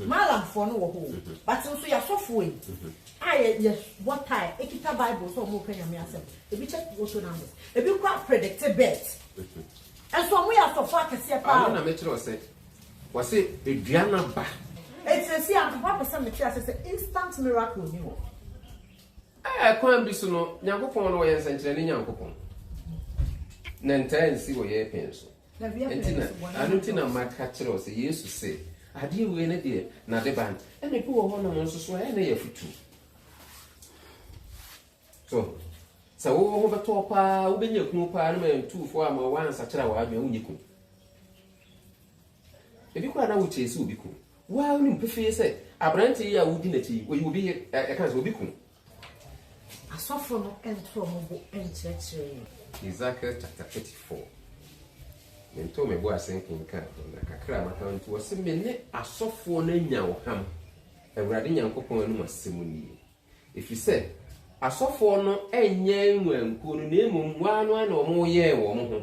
Malamfoɔ no wɔ hɔ o, but nso yɛn asɔfoɔ yi a yɛ bɔ tae, ekita bible sɛ wɔn reka nyame asɛm, ebi kyɛ lotto numbers, ebi kora predict bet, nso wɔn yɛ asɔfoɔ akɛseɛ paa o. Ano na me kyerɛ ɔsɛ, wɔsɛ edua na ba. Eti sɛsi a mpaboa pɛ sɛ me kyerɛ ase sɛ instant miracle ni hɔ. Ɛɛ kwan bi so no, Nyankopɔn no ɔyɛ nsɛnkyerɛnne Nyankopɔn, na ntaa nsi wɔ yɛɛ pɛn so. Enti na, ano nti na maka kyerɛ wo sɛ, Yesu se, Adeɛ wei ne deɛ, n'ade ba no. Ɛna ebi wɔ hɔnom nso so a, ɛyɛ na yɛ afutu. So, sɛ wowɔ ho bɛtɔ paa, wobɛnya kunu paa, no ma yɛ ntuufoɔ ama woansakyera w'adwene, wonyi kunu. Ebi koraa na wokyee sɛ obi kunu. Woa wonim pefee sɛ, aberante yi a wodi n'akyi yi, oyi obi yere, ɛka sɛ obi kunu. Asɔfo no nto wɔn bo nkyerɛkyerɛ yɛn. Ezekiel chapter thirty four, Mentoo me bo ase nkenkan ho, na kakra a maka no nti, ɔse, me ne asɔfoɔ no anya ɔham, Awurade Nyankopɔn anom asɛm nie. Ɛfiri sɛ, asɔfoɔ no nyɛɛ nnwankuo no, na mmom wɔn ara no ara na wɔyɛɛ wɔn ho,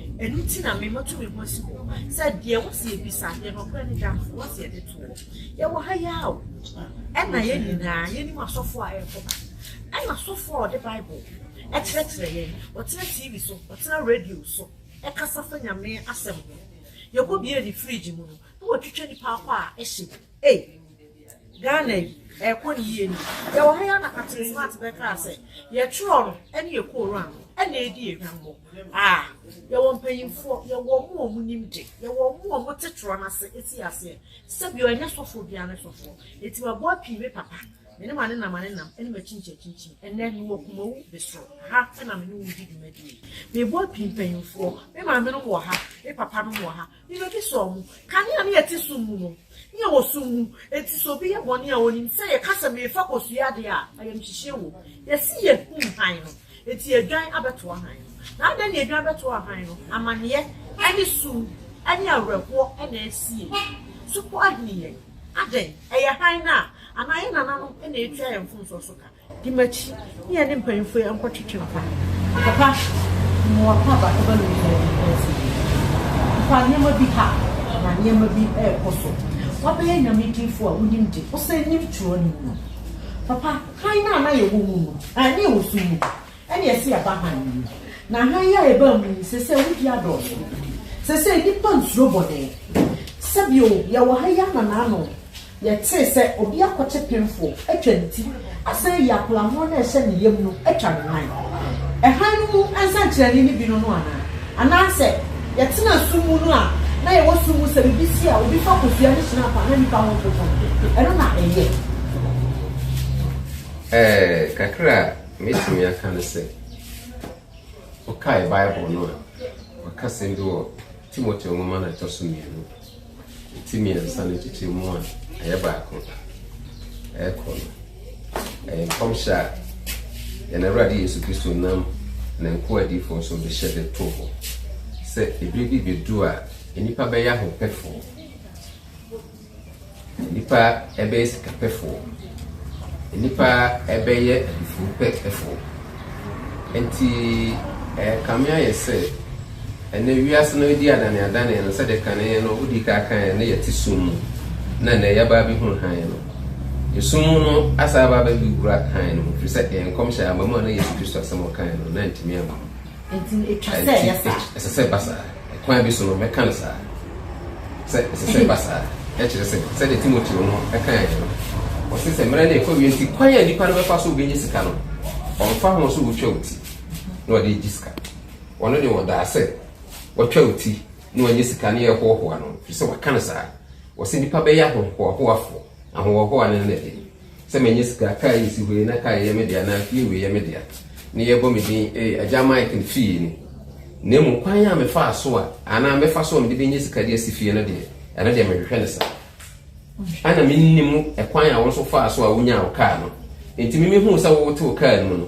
Ɛno nti na me matu me ho asi hɔ sɛ deɛ wɔ sɛ yɛbisa, deɛ nɔkorɛ no da, wɔ sɛ yɛde to hɔ. Yɛwɔ ha yi ara o, ɛna yɛn nyinaa yɛnim asɔfoɔ a ɛrekɔ ba. Ɛna asɔfoɔ a ɔde Bible kyerɛkyerɛ yɛn, ɔtena TV so, ɔtena radio so kasa fa Nyame asɛm ho. Yɛkɔ bie ne fridge mu no, na watwitwa nipa akɔ a ɛhye. Ei! Ghana yi ɛkɔ ne yie ni. Yɛwɔ ha yi ara na Captain Smart bɛkaa sɛ yɛtwerɛ no ɛne yɛ kooru ano ɛna ɛredi yɛ hwammɔ. Ah! Yɛwɔ mpanyimfoɔ, yɛwɔ ɔmo a ɔmo nim de, yɛwɔ ɔmo a ɔmo te twerɛ no ase ɛti aseɛ. Sɛbio ɛnyɛ sɔfoɔ biara ne sɔfoɔ. Nti maboa pii me papa, me ne mane nam ane nam, ɛne makyinkyin akyinkyin. Ɛnɛ me wɔ Kumawu Besro, ha ɛna me ne wo redi dwumadie yi. Meboa pii mpanyimfoɔ, me maame nom wɔ ha, me papa nom wɔ ha, Ne bɛdi sɔ ɔmo. Kanea no yɛ te sum mu no, ne yɛ wɔ sum mu, enti sɛ obi yɛ bɔne a onim sɛ yɛka sɛ merefa kosua adeɛ a, ayamhyehyeɛ wom. Yɛse yɛ hum hann no, enti yɛdwan abɛtoa hann no. Na adɛn na yɛdwan bɛtoaa hann no? Amaneɛ ne sum ne awerɛhoɔ na asie. Supɔw ahini yɛn. Adɛn? Ɛyɛ hann no a, anaa yɛn nananom na ɛretua yɛn mfomsoɔ so ka? Di m'akyi, ne yɛne mpanyimfo yi nkɔtwetwe nkwa. Papa, mmoa pa ba ɛba no nyinaa bi nsi. Papa, nneɛma bi ha, na nneɛma bi rekɔ so. Woabɛyɛ Nyame diyifo a wonim de, wosan nim twerɛ no mu no. Papa, hann no a na yɛwɔ mu no, ɛɛ, na yɛwɔ sum mu, ɛnna yɛse yɛaba hann no mu. Na hann yi a yɛbaa mu yi, seesei awudie adɔɔso. Seesei nnipa nsuro bɔne. Sɛbi o, yɛwɔ ha yi ananaano. Yɛtee sɛ obi akɔkyɛ pemfoɔ atwa ne ti asan ayi apolammoɔ no a ɛhyɛ ne yam no atwa ne nan. Ɛhan no mu nsɛnkyerɛnne no bi no no anaa? Anaasɛ yɛtenaa sum mu no a na yɛwɔ sum mu sɛ biribi si a obi fa kosua no hyena pa na nnipa ho toto no, ɛno na ɛyɛ? Ɛɛ, kakra a mɛtumi aka ne sɛ. Wokae Bible no a, wɔaka asɛm bi wɔ Timoteo nwoma no a ɛtɔ so mmienu, ti mmiɛnsa no nkyekyɛmu a ɛyɛ baako ɛrekɔ no. Ɛyɛ nkɔmhyɛ a yɛn Awurade Yesu Kristo nam ne nkoa adiyifoɔ so de hyɛ de to hɔ sɛ ebire bi bɛdu a nnipa bɛyɛ ahopɛfoɔ. Nnipa bɛyɛ sikapɛfoɔ. Nnipa bɛyɛ aduhurupɛfoɔ. Enti ɛrekame ayɛ sɛ ɛnnɛ wiase no redi adaneadane no, sɛdeɛ kane no wodii kan kaeɛ no, na yɛte sum mu, na ɛnnɛ yɛaba abɛhunu hann no. Esum mu no asan aba abɛwura hann no mu, ɛfiri sɛ ɛyɛ nkɔmhyɛ a aba mu a na Yesu Kristo asɛm a ɔkaeɛ no, na antumi amma mu. Enti etwa sɛ ɛyɛ saa. Enti ɛsɛ sɛ ɛba saa. Kwan bi so no, mɛka no saa, sɛ ɛsɛ sɛ ɛba saa. Ɛkyerɛ sɛ, sɛdeɛ Timoteo no kaeɛ no, ɔse sɛ mmerɛ no rekɔ awie nti, kwan a nnipa no bɛfa so bɛnya sika no, ɔmfa ho sɛ wɔtwa wo ti na wɔde regye sika. Ɔno deɛ ɔdaa sɛ wɔtwa wo ti na wɔanya sika no yɛ hoahoa no, ɛfiri sɛ waka no saa. Ɔse nnipa bɛyɛ ahohoahoafoɔ. Ahohoahoa no ne dɛn? Sɛ manya sika, car yi si hɔ yi, na car yi yɛ me dea, anaa fie wei yɛ me dea, na yɛbɔ me din, Ee, Agya Mike no fie yi ni. Na mmom, kwan a mefaa so a, anaa mɛfa so a mede benya sika de asi fie no deɛ, ɛno deɛ menhwehwɛ no saa. Ɛna mennim kwan a wo nso wofaa so a wonyaa wo car no. Enti me mehuu sɛ woretew car no mu no,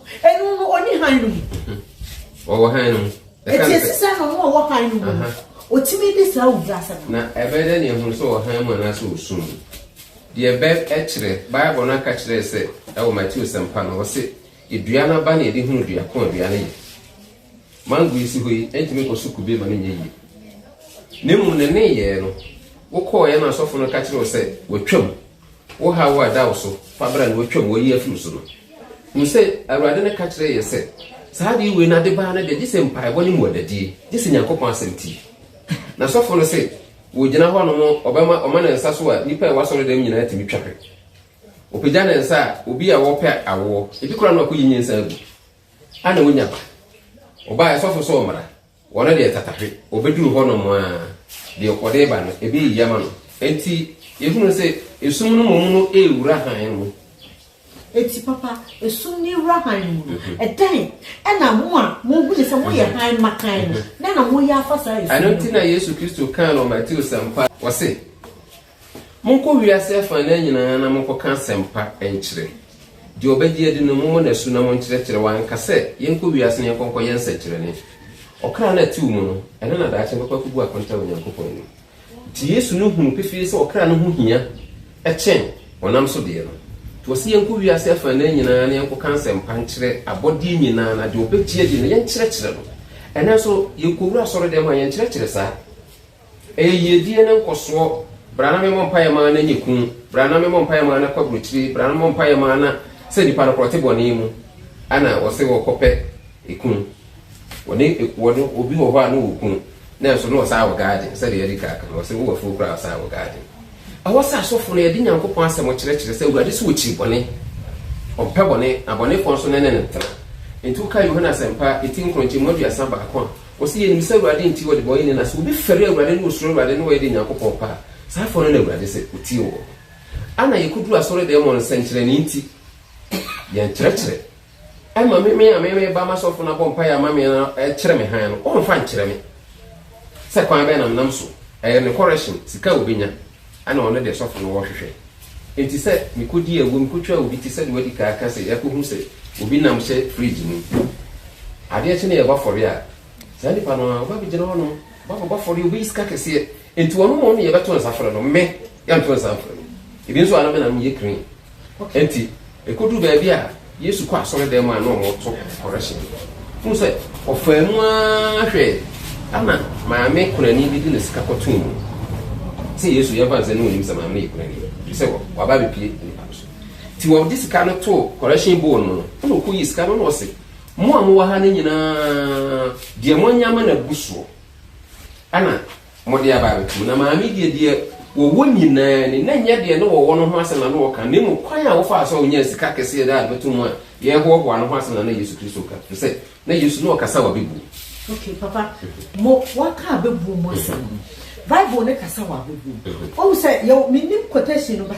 Enu no ɔni han no mu. Ɔwɔ han no mu. Eti esi sɛ na ɔno ɔwɔ han no mu. Otumi di saa owura asɛm. Na ɛbɛyɛ dɛ nea ehunu sɛ ɔwɔ han mu anaasɛ osum mu. Deɛ bɛ ɛkyerɛ, Bible no aka kyerɛ sɛ ɛwɔ Mateo sɛmpa no ɔse edua no aba na yɛde hunu dua ko a dua no yɛ. Mango yi si hɔ yi ɛntumi nkɔ so kube ma no nyɛ yie. Na mmom ne nneyɛɛ no, wokɔɔeɛ na asɔfo no ka kyerɛ wo sɛ watwam. Wo haw a ɛda wo so fa bra na wɔatwam wɔayi afiri wo so no, hu sɛ Awurade no ka kyerɛɛ yɛ sɛ, Saa adeɛ wei no ade baa no deɛ, gye sɛ mpaebɔ ne mmuadadie, gye sɛ Nyankopɔn asɛm tie. Na sɔfo no se, wɔgyina hɔ nom, ɔbɛma ɔma ne nsa so a, nnipa a ɛwɔ asɔredam nyinaa tumi twa hwɛ. Ɔpagya ne nsa a, obi a ɔrepɛ awoɔ, ebi koraa na wakɔyi nyinsɛn agu, a na wɔnya ba. Ɔbaeɛ, sɔfo sɛ ɔmmra. Wɔn deɛ tatahwe, wɔbɛduru hɔnom a, deɛ ɔkɔ de ba no, ebi reyɛ ama no. Enti yɛhunu sɛ esum no mmom no rewura hann mu. Enti papa, esum no rewura hann mu no, ɛdɛn na mo a mohunu sɛ moyɛ hann mmakan no, dɛn na moyɛ afa saa esum no ho? Ɛno nti na Yesu Kristo kaa no wɔ Mateo Sɛmpa, ɔse, Monkɔ wiase afanan nyinaa na monkɔka asɛmpa nkyerɛ. Deɛ ɔbɛgye adi no, mommɔ no asu na monkyerɛkyerɛ. Wanka sɛ, Yɛnkɔ wiase na yɛnkɔ nkɔyɛ nsɛnkyerɛnne. Ɔkra no a ɛtew mu no, ɛno na daakye ɛbɛkɔ akobu akonta wɔ Onyankopɔn anim. Enti Yesu no huu pefee sɛ ɔkra no ho hia kyɛn honam so deɛ no. Enti ɔse yɛnkɔ wiase afanan nyinaa na yɛnkɔka asɛmpa nkyerɛ abɔdeɛ nyinaa na deɛ ɔbɛgye adi no, yɛnkyerɛkyerɛ no. Ɛnnɛ nso, yɛkɔwura asɔredɛm a, yɛnkyerɛkyerɛ saa? Ɛyɛ yiedie ne nkɔsoɔ Bra na memmɔ mpaeɛ mma na nyɛ kuu Bra na memmɔ mpaeɛ mma na kɔ aburokyire Bra na memmɔ mpaeɛ mma na Sɛ nnipa no korɔ te bɔne mu a na wɔse wɔkɔ pɛ ekuu Wɔne ekuɔ no obi wɔ hɔ a na ɔwɔ kuu Nanso na ɔsaa wɔ garden Sɛdeɛ yɛadi ka aka no wɔse wowɔ afuo koraa a ɔsaa wɔ garden Ɛwɔ sɛ asɔfo no yɛde Nyankopɔn asɛm kyerɛkyerɛ sɛ Awurade se ɔkyiri bɔne Ɔmpɛ bɔne na bɔnefoɔ nso ne ne ntena Enti wokae Yohane asɛmpa eti nkron nkyɛmu aduasa baako a Wɔse yɛnim sɛ Awurade nti wɔ debɔneyɛni na sɛ obi fɛre Awurade ne osuro Awurade ne wɔyɛ de Nyankopɔn pɛ a, saa afɔɔ no na Awurade sɛ otie wɔ ho. Ana yɛkɔduru asɔredɛm wɔ nsɛnkyerɛnee nti? Yɛnkyerɛkyerɛ. Ɛma me me a me meba masɔfo no abɔ mpaeɛ ama me na ɛkyerɛ me hann no, wɔmfa nkyerɛ me sɛ kwan bɛn na menam so, ɛyɛ ne correction, sika a obenya. Ɛna ɔno deɛ sɔfo no wɔhwehwɛ. Enti sɛ mekɔdi awuo, mekɔtwa obi te sɛdeɛ wadi kan aka sɛ yɛakɔhu sɛ obi nam hyɛ fridge mu. Adeɛ kye na yɛbɔ afɔreɛ a, saa nipa no ara, ɔba bɛgyina hɔ nom, ɔba bɛbɔ afɔreɛ, ɔbɛyi sika kɛseɛ. Enti ɔno mmom na yɛbɛto nsa frɛ no, me, yɛnto nsa mfrɛ no. Ebi nso a na me na meyɛ crane, Enti, ɛkɔduu baabi a Yesu kɔ asɔredan mu a na wɔreto kɔrɛhyen no, wohu sɛ ɔfaa mu ara hwɛe, ɛnna maame kunani bi de ne sika kɔtoo mu. Sɛ Yesu yɛ mfa nsɛ na ɔnim sɛ maame no yɛ kunani, ɛfiri sɛ waba abɛpue nnipa no so. Enti ɔde sika no too kɔrɛhyen bowl no mu no, ɛnna ɔkɔyii sika no na ɔse, Mo a mowɔ ha no nyinaa, deɛ moanya ma no abu soɔ, ɛnna Wɔde aba abɛto mu. Na maame deɛ, deɛ wɔwɔ nyinaa ni. Na ɛnyɛ deɛ na wɔwɔ no ho asɛm na na ɔreka, na mmom kwan a wɔfaa so a wɔnyaa sika kɛseɛ de abɛto mu a yɛrehoahoa no ho asɛm na na Yesu Kristo reka, ɛfiri sɛ na Yesu na ɔkasa wɔ abɛbuo. Okay, Papa, mo, wɔaka abɛbuo mu asɛm no, Bible no kasa wɔ abɛbuo mu. Woahu sɛ, yɛwɔ, mennim quotation no, but.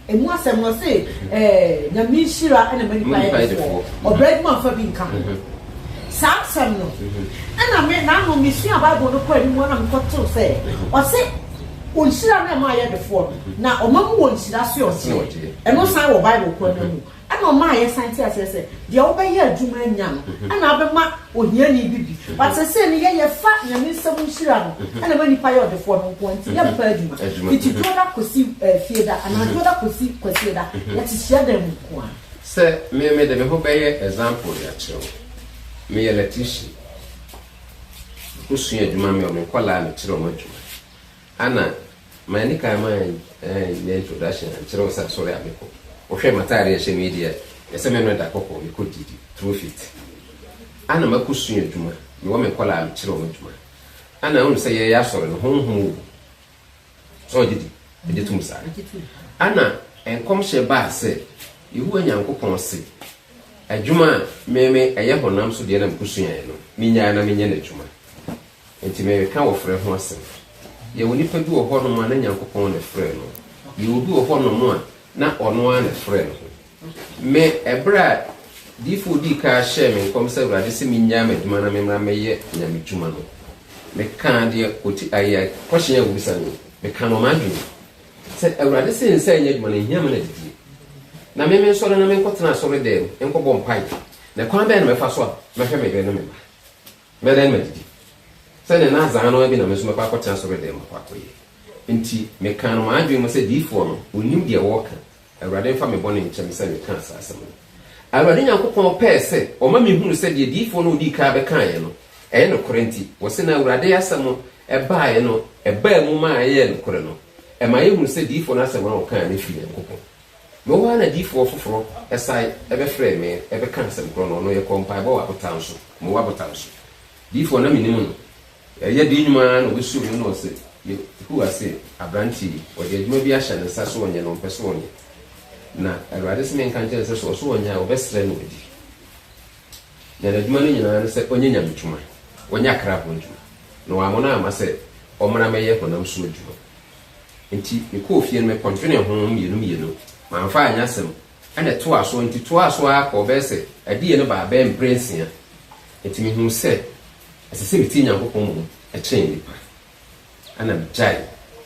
Ɛmu asɛm no ɔse ɛɛ Nyame nhyira na ma nipa yɛ defoɔ, ɔbrɛ adwuma mfa bi nka ho. Saa asɛm no ɛna me nano me sua bible no kɔ anim ara na me kɔ tew sɛ ɔse ɔnhyira no ɛma ayɛ defoɔ no na ɔma mu wɔ nhyira soɛ ɔgyeɛ ɛno san wɔ bible korɔ no mu. Ɛna ɔmaa yɛsan te aseɛ sɛ, deɛ wobɛyɛ adwuma anya no, ɛna abɛma ohiani bi bi. But seesei no, yɛ yɛfa Nyame nsɛm nhyira no, ɛna ɛma nnipa yɛ ɔdefoɔ no nkoa, nti yɛmpa adwuma. Fiti Dwoda kɔsi eh, Fieda, anaa Dwoda kɔsi Kwasieda, yɛte hyiadan mu nkoa. Sɛ me, mede me ho bɛyɛ example de akyerɛ wo. Meyɛ electrician. Mekɔsua adwuma, me wɔ me nkwadaa a mekyerɛ wɔn adwuma. Ana manni kan manyɛ introduction ankyerɛ wo sɛ asɔre a mekɔ? Wohwɛ m'atade a ɛhyɛ me yi deɛ, ɛyɛ sɛ me ne no da kɔkɔɔ, mekɔ didi, through fit. Ana makɔsua adwuma, mewɔ me nkwadaa a mekyerɛ wɔn adwuma. Ana wonim sɛ yɛyɛ asɔre no, honhom wɔ mu. Sɛ wogye di? Megye tom saa. Ana nkɔmhyɛ baa sɛ Yehowa Nyankopɔn se, Adwuma a me me ɛyɛ honam so deɛ na mekɔsuaeɛ no, mennyae na menyɛ no adwuma. Enti mereka wɔfrɛ ho asɛm. Yɛwɔ nnipa bi wɔ hɔnom a na Nyankopɔn na ɛfrɛɛ no. Yɛwɔ bi wɔ hɔnom a na ɔno ara na ɛfrɛɛ ne ho. Me, ɛberɛ a Diyifoɔ a ɔdii kan hyɛɛ me nkɔm sɛ Awurade se mennyaa m'adwuma na memmra mmɛyɛ Nyamedwuma no, mekaa deɛ ɔti aeɛ, question a wɔbisa no, mekaa no wɔ m'adwene mu. Sɛ Awurade se nsan nyɛ adwuma no, ɛnhia me n'adidie. Na me mensɔre na menkɔtena asɔredɛm nkɔbɔ mpaeɛ. Na kwan bɛn na mɛfa so a mɛhwɛ me yere ne me mma? Mɛdan m'adidi, sɛdeɛ na dza ano ara bi na me nso mɛkɔ akɔtena soro dɛm akɔ akɔyɛ. Nti mekaa no m'adwene mu sɛ diyifoɔ no, ɔnnim deɛ ɔreka, Awurade mfa me bɔne nkyɛ me sɛ mekaa saa asɛm no. Awurade Nyankopɔn pɛɛ sɛ ɔma mehunu sɛ deɛ diyifoɔ no a ɔdii kan bɛkaeɛ no, ɛyɛ nokorɛ nti, wɔse na Awurade asɛm baeɛ no, ɛbaa mu ma ɛyɛɛ nokorɛ no, ɛma yɛhunu sɛ diyifoɔ no asɛm a ɔkaeɛ no firi Nyankopɔn. Mmom ara na difoɔ foforɔ san bɛfrɛɛ me bɛkaa asɛm korɔ no, ɔno yɛkɔɔ mpaebɔ wɔ abotan so, Moab abotan so. Difoɔ a na menim no, ɛyɛ dee nnwuma ara na ɔbɛsuu me na ɔse, Yehowa se, Aberanteɛ yi, wɔde adwuma bi ahyɛ ne nsa, so ɔnyɛ na ɔmpɛ sɛ ɔnyɛ? Na Awurade se menka nkyerɛ no sɛ, sɛ ɔse ɔnyɛ a, wɔbɛsrɛ no adi. Na n'adwuma no nyina ara ne sɛ ɔnyɛ nyamedwuma, ɔnyɛ akraboɔ adwuma, na wammɔ no amma sɛ ɔmmra mmɛyɛ honam so adwuma. Enti mekɔɔ fie no, mekɔdwenee ho mmienu mmienu. Mamfa anyɛ asɛm, ɛnna ɛtoaa so, enti toaa so ara kɔɔ bɛyɛ sɛ adiyɛ no baa bɛyɛ mprɛnsia. Enti mehuu sɛ ɛsɛ sɛ metie Nyankopɔn mmom kyɛn nnipa. Ɛnna megyaee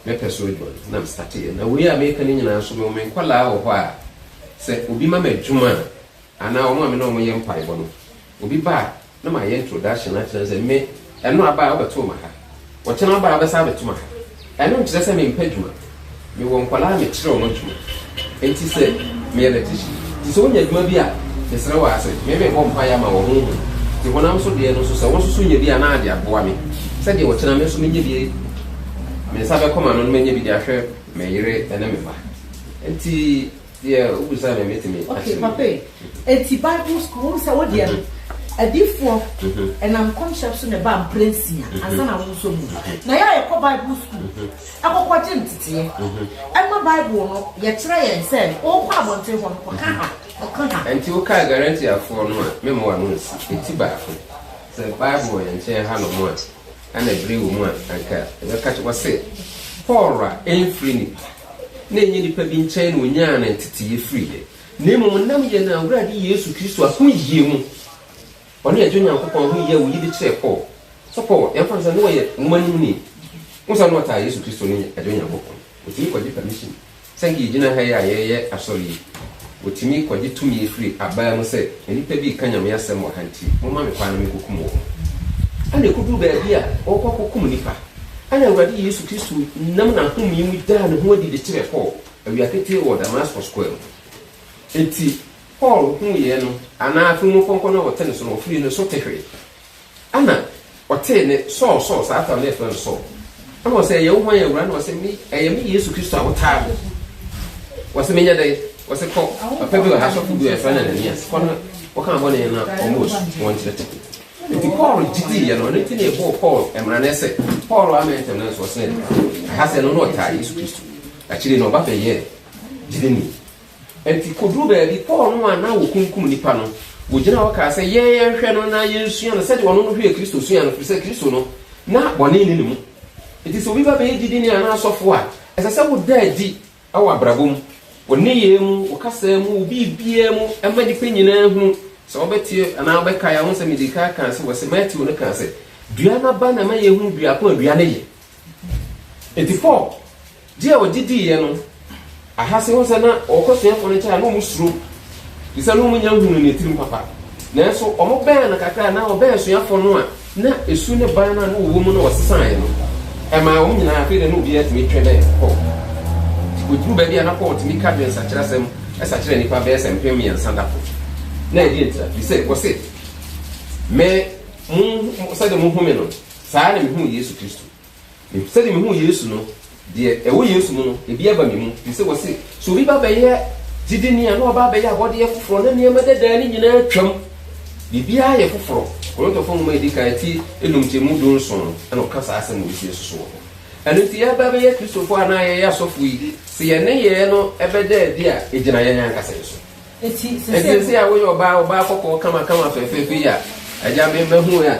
me pɛ so adwuma no na mesateeɛ. Na wei a mereka no nyinaa nso, mewɔ me nkwadaa wɔ hɔ a, sɛ obi ma me adwuma a, Anaa wɔn a me ne wɔn yɛ mpaebɔ no, obi ba a, na mayɛ introduction akyerɛ no sɛ me, ɛno aba a wobɛto ma ha, ɔkyena ɔba a wobɛsan abɛto ma ha. Ɛno nkyerɛ sɛ mempɛ adwuma. Mewɔ nkwadaa a mekyerɛ wɔn adwuma. Enti sɛ me electrician, nti sɛ wonya adwuma bi a, mesrɛ wo ara sɛ me mebɔ mpaeɛ ama wɔ honhom. Nti honam so deɛ no nso sɛ wo nso so nya bi a na de aboa me sɛdeɛ ɔkyena me nso menya bi, me nsa bɛkɔ m'ano na manya bi de ahwɛ me yere ne me mma. Enti. Deɛ wo bisa no me tumi akyerɛ wo. Okay papa ei, nti bible school wohu sɛ wo deɛ no adiyifoɔ ɛnam nkɔmhyɛ so na ɛbaa mprɛ nsia ansa na wo nso mu na yɛ a yɛkɔ bible school ɛkɔkɔ gye nteteɛ ɛma bible no yɛkyerɛ yɛn sɛ wokɔ abɔnten hɔ no kɔka ha kɔka ha. Ɛnti wo kaa garantiafoɔ no a me mmoa no nsi ɛti baako sɛ bible wɔ yɛn nkyɛn ha nom a ɛna ɛbrɛ wɔ mu a anka ɛbɛka kyɛ wɔ se pɔɔra ɛmfiri nipa. na ɛnyɛ nnipa bi nkyɛn na ɔnyaa ne nteteeɛ firiiɛ, na mmom ɛnam yɛn Awurade Yesu Kristo ahoyie mu. Ɔne Agya Onyankopɔn ahoyie a ɔyi de kyerɛɛ Paul. So Paul, yɛmfa no sɛ na ɔyɛ nwoma no muni? Wohu sɛ na ɔtaa Yesu Kristo ne Agya Onyankopɔn. Ɔtumi kɔgye permission. Sɛ anka yɛgyina ha yi a yɛreyɛ asɔre yi, Wɔtumi kɔgye tumi firi abaa mu sɛ, Nnipa bi reka Nyame asɛm wɔ ha nti, momma me kwan na menkɔkum wɔn. Ɛnna ɛkɔduru baabi a, wɔrekɔ akɔkum nnipa. Ɛnna Awurade Yesu Kristo nam n'ahome mu daa ne ho adi de kyerɛɛ Paul awia ketee wɔ Damasko square mu. Enti Paul huiɛ no, anaa afenumufɔnkɔ no a wɔte ne so no, wɔfirii ne so tehwee. Ɛnna ɔtee nne, Saul, Saul, saa tam no yɛ frɛ no Saul. Ɛnna ɔsɛ, Ɛyɛ wo hwan, Awura? Ɛnna ɔsɛ, Me, ɛyɛ me Yesu Kristo a wotaa no. Ɔsɛ, Menyɛ dɛn? Ɔsɛ, Kɔ, papa bi wɔ ha, sɔfo bi wɔ ha, yɛfrɛ no Ananias. Kɔ na kɔka ne bɔne na ɔmmɔ asu, na wɔnkyerɛkyerɛ. Nti Paul gye dii yɛ no, ɔno nti na ɛbɔɔ Paul mmara no sɛ, Paul ammɛn ntɛm nanso ɔsena adi. Ɛha sɛ ɛno na ɔtaa Yesu Kristo. Akyiri yi no, ɔba bɛyɛɛ gyidini. Enti koduu baabi, Paul no a na wokunkum nnipa no, wogyinaa hɔ kaa sɛ, Yɛn, yɛnhwɛ no na yensua no sɛnea ɔno no hwɛɛ Kristo suae no, efisɛ Kristo no, na bɔne nni ne mu. Enti sɛ obi ba bɛyɛ gyidini anaa ɔsɔfo a, ɛsɛ sɛ woda adi wɔ w'abrabɔ mu, wo nneyɛe mu, wo kasa mu, wo biribiara mu ma nnipa nyinaa hu, sɛ wɔbɛte anaa wɔbɛkae a, wɔahu sɛ midii kan kaa sɛ wɔse Mateo no kaa sɛ, Dua no aba na ɛma yehu dua ko a dua no yɛ. Enti Paul. Gye a wɔgye diiɛ no, Ahase hu sɛ na wɔkɔ asuafoɔ no nkyɛn a na wɔsuro, firi sɛ na wɔnnya nhunuu ne tirim papa. Nanso wɔbɛn no kakra a anaa wɔbɛn asuafoɔ no a, na esu ne ban no a na wɔwɔ mu no wɔsesaeɛ no, ɛmaa wɔn nyinaa afei deɛ na obiara tumi twe bɛn Paul. Nti wɔduruu baabi a na Paul tumi ka dwensakyera asɛm sa kyerɛ nnipa bɛyɛ sɛ mpem mmiɛnsa da koro. Na ɛdeɛn nti da? Firi sɛ wɔse, Me, mo, sɛdeɛ mohunu me no, saa ara na mehunuu Yesu Kristo. Me, sɛdeɛ mehuu Yesu no, deɛ ɛwɔ Yesu mu no, ebi aba me mu. Ɛfiri sɛ wɔse, sɛ obi ba bɛyɛ gyidini a, na waba abɛyɛ abɔdeɛ foforɔ, na nneɛma dadaa no nyinaa atwam. Biribiara yɛ foforɔ. Korintofo nwoma a ɛdi kan, ti enum nkyɛmu du nson no na ɔka saa asɛm wei si nso so wɔ hɔ. Ɛno nti, yɛreba abɛyɛ Kristofo anaa yɛyɛ asɔfo yi, sɛ yɛn nneyɛɛ no bɛda adi a, ɛgyina yɛn ankasa yɛn so. Enti seesei a woyɛ ɔbaa, ɔbaa kɔkɔɔ kamakama fɛfɛɛfɛ yi a, agya, me, mahu a,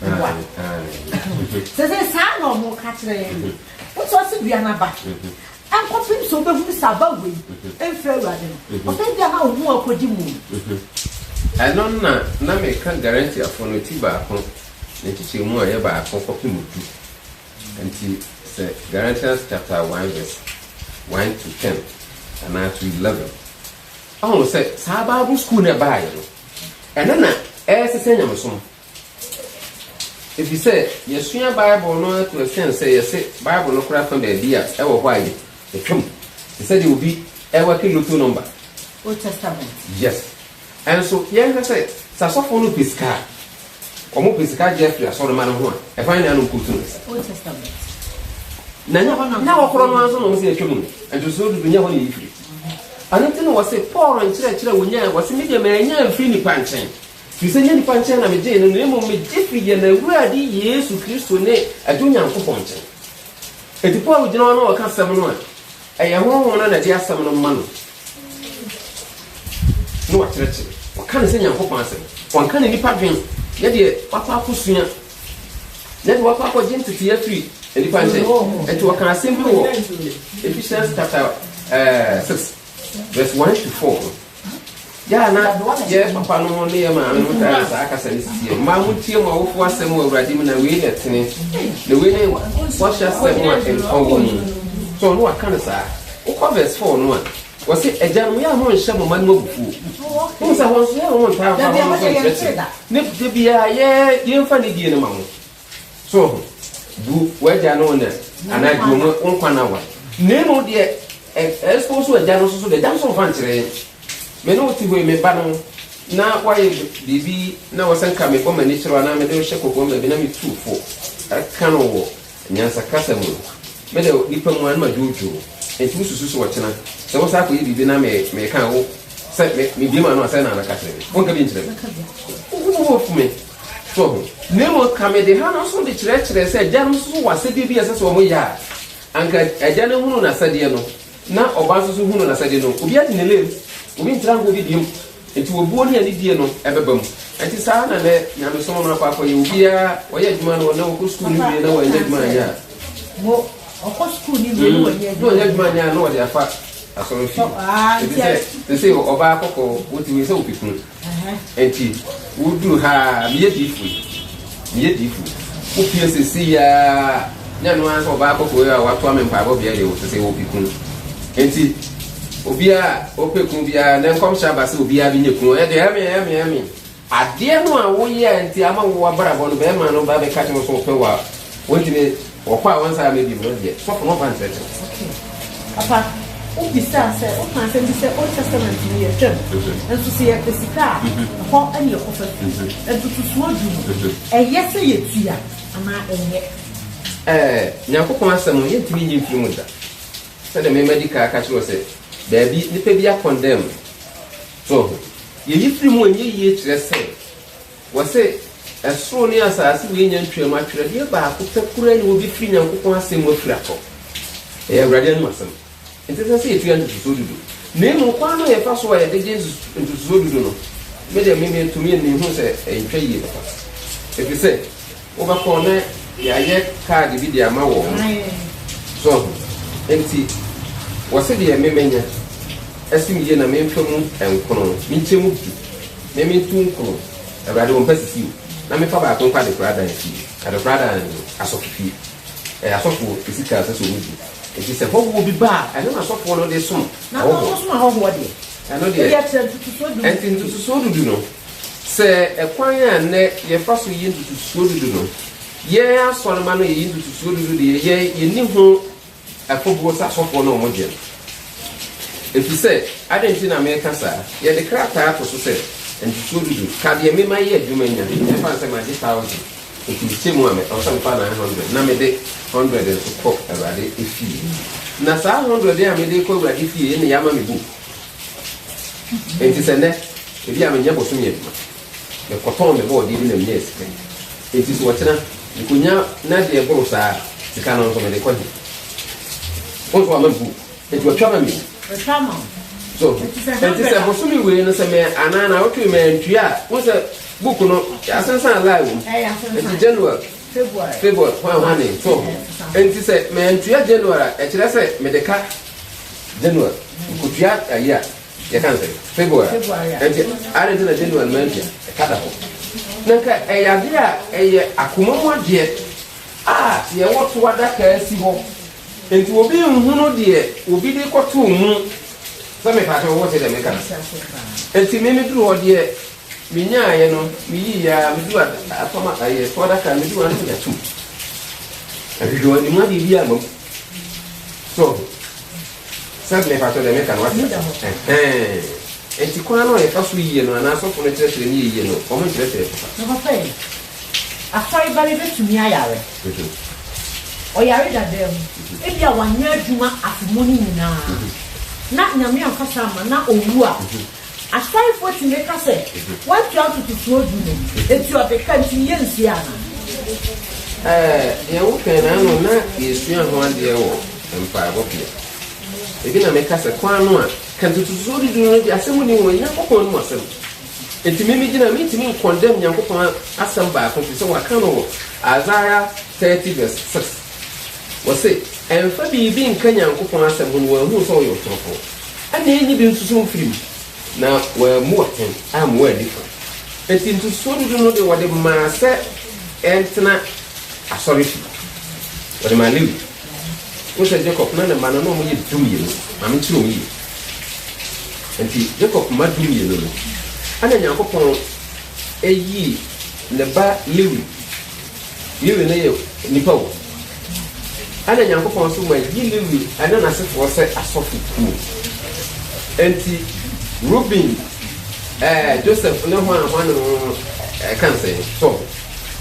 boa sɛ sɛ saa na ɔmo ka kyerɛ yɛn no wotu ase dua n'aba nkɔpem sɛ wobɛhunu sɛ aba wei mfiri awurade no ɔsɛ bia na wo ho akɔdi mu ɛno na na meka garantiafoɔ no ti baako ne nkyekyɛ mu a ɛyɛ baako kɔpem du nti sɛ Galatians chapter 1 verse 1 to 10 anaa to 11 ɔhu sɛ saa bible school no ɛbaayɛ no ɛno na ɛresesɛ nyamesom Efisɛ yɛasua Bible no ato asiane sɛ yɛse Bible no kora fa baabi a ɛwɔ hɔ a yɛatwam, te sɛ deɛ obi rewake lotto nɔmba. Old Testament. Yes. Ɛnso yɛnhwɛ sɛ, sɛ asɔfoɔ no pɛ sika a, wɔpɛ sika gye afiri asɔremma no ho a, ɛhwan na anom kɔtu no nsa? Old Testament. Na nyɛ hɔ na wɔkorɔ no ara nso na wɔn se yɛatwam no, ntosoɔ dudu, nyɛ hɔ na eyi firi. Ɛno nti na wɔse Paul nkyerɛkyerɛ a wɔnyae, wɔse, Me deɛ mannya amfiri nnipa nkyɛn, Firi sɛ ɛnyɛ nnipa nkyɛn na megyee no, na mmom megye firii yɛn Awurade Yesu Kristo ne Agya Onyankopɔn nkyɛn. Enti Paul gyina hɔ na ɔka asɛm no a ɛyɛ Honhom no na ɛde asɛm no ma no, na wakyerɛkyerɛ. Ɔka no sɛ Nyankopɔn asɛm. Ɔnka ne nnipa dwen, ne deɛ wakɔ akɔsua, ne deɛ wakɔ akɔgye ntetee afiri nnipa nkyɛn. Enti ɔka asɛm bi wɔ Ephesians chapter uh, eh, 6 verse 1 to 4 no. Yɛ a na yɛn papanom ne yɛn maamenom taa yɛ saa kasa no sisi yɛ. Mmaa montie mo awofo asɛm wɔ Awurade mu na wei na ɛtene. Na wei ne bɔhyɛ asɛm a nkwa wɔ mu. So ɔno waka no saa? Wokɔ verse 4 no a, wɔse, Agyanom, yɛ a monnhyɛ mo mma no mu abufuo. Wohu sɛ hɔ nso yɛ a wɔntaa mfa hɔnom so nkyerɛkyerɛ. Ne da biara yɛ yɛmfa ne die no ma mo. So ho, bu w'agya ne wo na anaa di wɔn wo nkwa no awa. Na mmom deɛ expose w'agya no nso so deɛ, agya nso mfa nkyerɛ yɛn. Me ne wo te hɔ yi, me ba no, na woayɛ biribi na wɔ sɛ nka mebɔ m'ani kyerɛ wo anaa mede wo hyɛ kɔkoam baabi na metu wo fo ka no wɔ nyansakasa mu no, me de nipa mu a na madwoodwoo. Enti wosusu sɛ ɔkyena sɛ wosan akɔyɛ biribi na me, meka wo sɛ me, mebue m'ano a sɛn na mɛka kyerɛ me? Wonka bi nkyerɛ me? Wo bo afu me? So, na mmom ka mede ha no nso de kyerɛkyerɛɛ sɛ agyanom nso so wɔ asɛdeɛ bi a ɛsɛ sɛ wɔn yɛ a, anka agya no hunu n'asɛdeɛ no, na ɔba nso so hunu n'asɛdeɛ no. Obi ate ne lem, obi ntra nka obi deɛm, nti obuo ne anidie no ɛbɛba mu. Nti saa ara na nɛ nyamesom no akɔ akɔyɛ, obiara ɔyɛ adwuma no, ɔnɛ ɔkɔ sukuu no wie na wɔanyɛ adwuma anyɛ a, mo ɔkɔ sukuu no wie na mm. wɔnyɛ adwuma adwuma anyɛ a na wɔde afa asɔrɔ fie, ɛti sɛ sɛ ɔbaa kɔkɔɔ, wotumi sɛ wopɛ kunu. Enti woduu ha ara, meyɛ diyifo yi, meyɛ diyifo yi. Wopue seesei ara, ne ɛno ara sɛ ɔbaa kɔkɔɔ yi a watoa me mpaebɔ bea deɛ, ɔsɛ sɛ ɔpɛ kunu. Enti obiara a ɔpɛ kunu biara, nnɛ nkɔmhyɛ aba sɛ obiara bɛnya kunu. Ɛyɛ deɛ, amen, amen, amen. Adeɛ no a woyɛ a nti ama wo abrabɔ no, barima no ba abɛka kyerɛ wo sɛ ɔpɛ wo a, wontumi. Wɔkɔ a wɔnsan aba bio no deɛ, sɔfo no mfa nkyerɛkyerɛ. Okay. Papa, wo bisaa sɛ, wo kaa asɛm bi sɛ Old Testament no yɛ fam, nso sɛ yɛ pɛ sika a, ɛhɔ ɛne ɛkɔ fam. Ntotosoɔ du no, ɛyɛ sɛ yɛ tua anaa ɛnyɛ? Ɛɛ, Nyankopɔn asɛm no, yɛ ntumi nyi mfiri mu da. Sɛdeɛ me madi kan aka kyerɛ wo sɛ, baabi nipa bi a condemn no. So ho? Yɛ yi firi mu ɛnyɛ yie kyerɛ sɛ. Wɔse, Ɛsoro ne asaase wei nya ntwaam a, twerɛdeɛ baako pɛ koraa ni wɔbɛfiri Nyankopɔn asɛm mu afiri atɔ. Ɛyɛ Awurade anom asɛm. Enti ɛsɛ sɛ yɛtua ntotosoɔ dudu. Na mmom kwan no a yɛfa so a yɛde gye ntotosoɔ dudu no, me deɛ me me to me ani hunu sɛ ɛntwa yie papa. Ɛfiri sɛ. Wobɛkɔ na yɛayɛ kaade bi de ama wɔn. So ahu? Enti wɔse deɛ me mɛnya asim yie na memfa mu nkron, menkyɛ mu du, me mentu nkron, Awurade, wɔmpa sisi o, na memfa baako nkɔ adekoradan fie. Adekoradan no, asɔfofie. Ɛyɛ asɔfoɔ sika a ɛsɛ sɛ wɔgye. Enti sɛ hɔhoɔ bi ba a, ɛno na asɔfoɔ no de som hɔhoɔ. Ɛno deɛ, enti ntotosoɔ du du no, Sɛ ɛkwan a nnɛ yɛfa so yi ntotosoɔ dudu no, yɛn asɔremma no yɛyi ntotosoɔ dudu deɛ, yɛn yɛnni ho afobuo sɛ asɔfoɔ no a wɔgye no. Ɛfiri sɛ, adɛn nti na mereka saa? Yɛde krataa to so sɛ, ntotosoɔ dudu, ka deɛ me mayɛ adwuma nya, ɛmfa no sɛ magye thousand, enti mekyɛ mu a, me, ɛwɔ sɛ mefa nine hundred, na mede hundred nso kɔ Awurade fie. Na saa hundred a mede rekɔ Awurade fie yi na yɛama me book. Enti sɛ nnɛ, ebia menyɛ bosome adwuma, mekɔtɔn me bɔɔdeɛ bi na menya sika yi, enti sɛ ɔkyena mekɔnya na deɛ ɛboro saa a, sika no nso mede kɔ he? Wo nso wama me book, enti watwa ma me o. Watwa ma wo. So, enti sɛ bosome wei no sɛ me anaa na awotwe me antua a, wo sɛ book no yɛasensan lie wɔ mu. Enti January, February, hwan hwane, so. Enti sɛ me antua January a, ɛkyerɛ sɛ mede ka January nkotua ayi a yɛka nsɛ February ɛnti adi nti na January man tua ɛka da hɔ na nka ɛyɛ adeɛ a ɛyɛ akoma mu adeɛ a yɛwɔ to adaka asi hɔ nti obi nhunu deɛ obi de kɔto mu sɛ mepakyɛ wɔwɔ te dɛ meka no nti me meduru hɔ deɛ menyaeɛ no meyi yɛ a medu afama ayɛ to adaka medu ano yɛ atum ahwehwɛ anim adeɛ bi ama mu So sɛs me pakyɛw deɛ meka no wate ase ɛhɛn nti kwan no a yɛfa so yie no anaa asɔfo no kyerɛkyerɛ no yɛ yie no wɔn nkyerɛkyerɛ so pa. Nokwaɛ yi, asɔre ba bi bɛtumi ayare. Ɔyare dadaa mu, ebia wanyɛ adwuma afe mu no nyinaa, na Nyame amfa saa amma na ɔwu a, Asaefoɔ tumi ka sɛ, Woatua ntotosoɔ du no, enti ɔde ka, enti ne yɛnsuaa anaa? Ɛɛ, deɛ wokae no ara no na yɛsua ho adeɛ wɔ mpaebɔ bea. Ebi na meka sɛ, kwan no a, ka ntotosoɔ du du no deɛ asɛm nni ho, Onyankopɔn anom asɛm. Enti me megyina a, merentumi nkɔndɛm Nyankopɔn asɛm baako firi sɛ wɔaka no wɔ Isaiah thirty verse six. Wɔse, Ɛmfa biribi nka Nyankopɔn asɛm ho na wɔahunu sɛ ɔyɛ ɔtorofoɔ. Ana enyi bi nsuso mfiri mu? Na wɔammua hɛn ammua anifua. Ntsi nsuso dudu no de wɔde maa sɛ ɛntsena asɔrfi. Wɔde maa Lewi. Wohu sɛ Jacob na ne mba no, nna wɔyɛ dumienu. Maame kyerɛw mu yie. Ntsi Jacob mma dumienu no, ana Nyankopɔn eyii ne ba Lewi Lewi no yɛ nnipa o. Ɛna Nyankopɔn nso ma yi Lewi ne n'asefoɔ sɛ asɔfo kuo. Enti Ruben, ɛɛ Joseph ne hwan hwan no ɛka nsɛn so.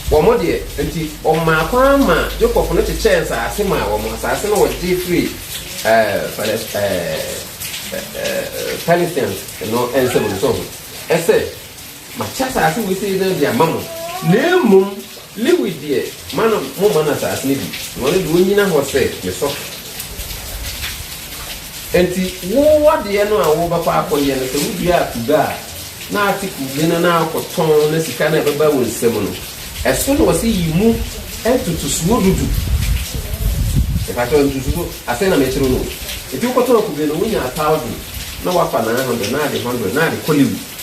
Wɔn deɛ nti ɔmaa kwan ma Jacob no kyekyɛɛ nsaase maa wɔn. Nsaase no wɔgye firi ɛɛ Palest ɛɛ ɛɛ Palestinians no nsam no so ho. Ɛsɛ Makyɛ asase wesee no de ama mo, na mmom Lewi deɛ, ma no, momma no asase no bi, na ɔno deɛ, ɔnnyina hɔ sɛ me sɔfo. Enti wo adeɛ no a worebɛkɔ akɔyɛ no, sɛ woduaa kube a na ate kube no na wokɔtɔn na sika no a ɛbɛba wo nsam no, ɛso na wɔse yi mu ntotosoɔ du du. Mepakyɛw, ntotosoɔ, asɛn na mekyerɛw no o. Enti wokɔtɔn kube no, wonyaa thousand, na woafa nine hundred, na ade hundred, na ade kɔ Lewi.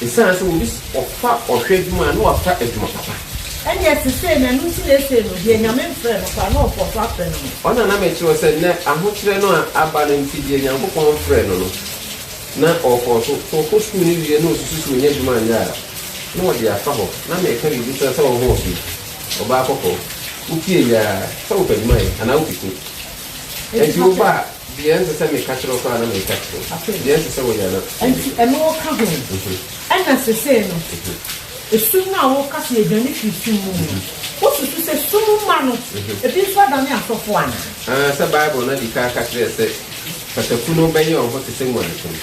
Esiane sɛ obi ɔfa ɔhwɛ adwuma a na wafa adwuma papa. Ɛnneɛ sesei no ɛno nti na esei no deɛ Nyame mfrɛ no koraa no ɔkɔ so afrɛ no no. Ɔna na mekyerɛ wo sɛ nnɛ ahokyerɛ no a aba no nti deɛ Nyankopɔn mfrɛ no no na ɔkɔ so, sɛ ɔkɔ sukuu no wie na osusu sɛ onya adwuma anyɛ a na ɔde afa hɔ, na meka biribi kyerɛ wo sɛ ɔhoɔfɛ yi, ɔbaa kɔkɔɔ, wotie yi aa sɛ wopɛ adwuma yɛ anaa wopɛ kunu, ɛnti woba a. Deɛ ɛnsɛ sɛ meka kyerɛ wo koraa na mereka kyerɛ wo, afei deɛ ɛnsɛ sɛ wo yɛ no. Enti ɛno woka ho? Ɛna sesei no, esum no a woka sɛ yɛdwane firi sum mu no, wosusu sɛ sum mma no bi nso adane asɔfo anaa? Aane, sɛ Bible no adi kan ka kyerɛ yɛn sɛ pataku no bɛyɛ wɔn ho te sɛ nguanten no.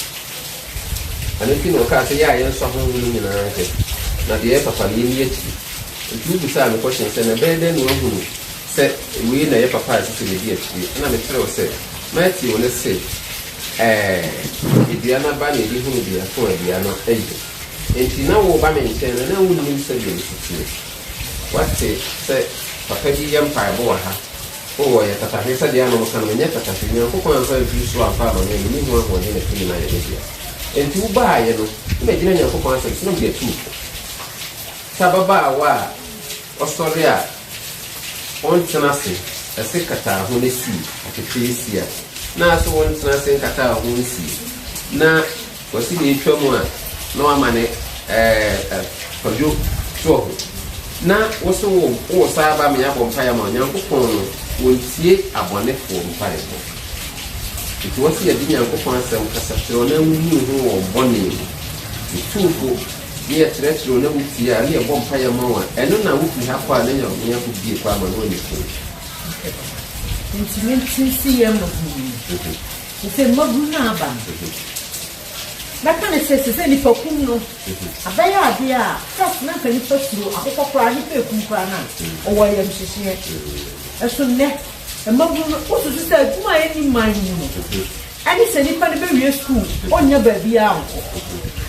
Ɛno nti na ɔkaa sɛ, Yɛ a yɛnsɔ ahɔho no nyinaa hwɛ, na deɛ ɛyɛ papa no, yɛnni akyire. Enti wobisaa me kɔhyɛn sɛ, Na ɛbɛyɛ dɛn na wɔahunu? Sɛ wei na ɛyɛ papa a ɛsɛ sɛ medi akyire, ɛnna mekyerɛw sɛ, Matthew no se, Ɛɛ, dua no aba na ebi hunu biako a dua no ayi. Enti na woreba me nkyɛn no, na wunnim sɛdeɛ mesi teɛ. Woate sɛ papa bi yɛ mpaebɔ wɔ ha. O, ɔyɛ tatahwe, sɛdeɛ a na wɔka no, menyɛ tatahwe. Onyankopɔn amfa amfiri soro amfa amma me a menni ho ahoɔden na tumi no ayɛ me dea. Enti wobaaeɛ no, na magyina Onyankopɔn asɛm so, na mede atu wo fo. Sɛ ababaawa a. Ɔsɔre a, ɔntsena ase, ase kataa ho na siw aketeesia, na ase ɔntsena ase nkataa ho nsiw, na ɔse na etwa mu a na ɔama ne kwadwo toɔ ho. Na wose wo wo saa aba me abɔ mpaeɛ ama wo, Nyankopɔn no ɔntie abɔnefoɔ mpaebɔ. Nti wɔse yɛde Nyankopɔn asɛm kasa kyerɛ wɔn na woyi wo ho wɔ wɔn bɔne mu. Otumfo ne yɛkyerɛkyerɛ wo na wotie a, ne yɛbɔ mpaeɛ ma wo a, ɛno na wofiri ha kɔ a na Nyankopɔn bue kwan ma no wɔ Nico. Okay papa. Nti me nte se yɛ mmabunu no mu. Nti sɛ mmabunu no aba no, mɛka ne sɛ sesɛ nipa kum no abɛyɛ adeɛ a first na nka nipa suro akokɔ koraa nipa ekum koraa no a ɔwɔ ayamhyehyeɛ. Ɛso nnɛ mmabunu no wosusu sɛ adwuma a ɛnni man no mu no Ɛne sɛ nipa no bɛwie sukuu, ɔnnya baabiara nkɔ.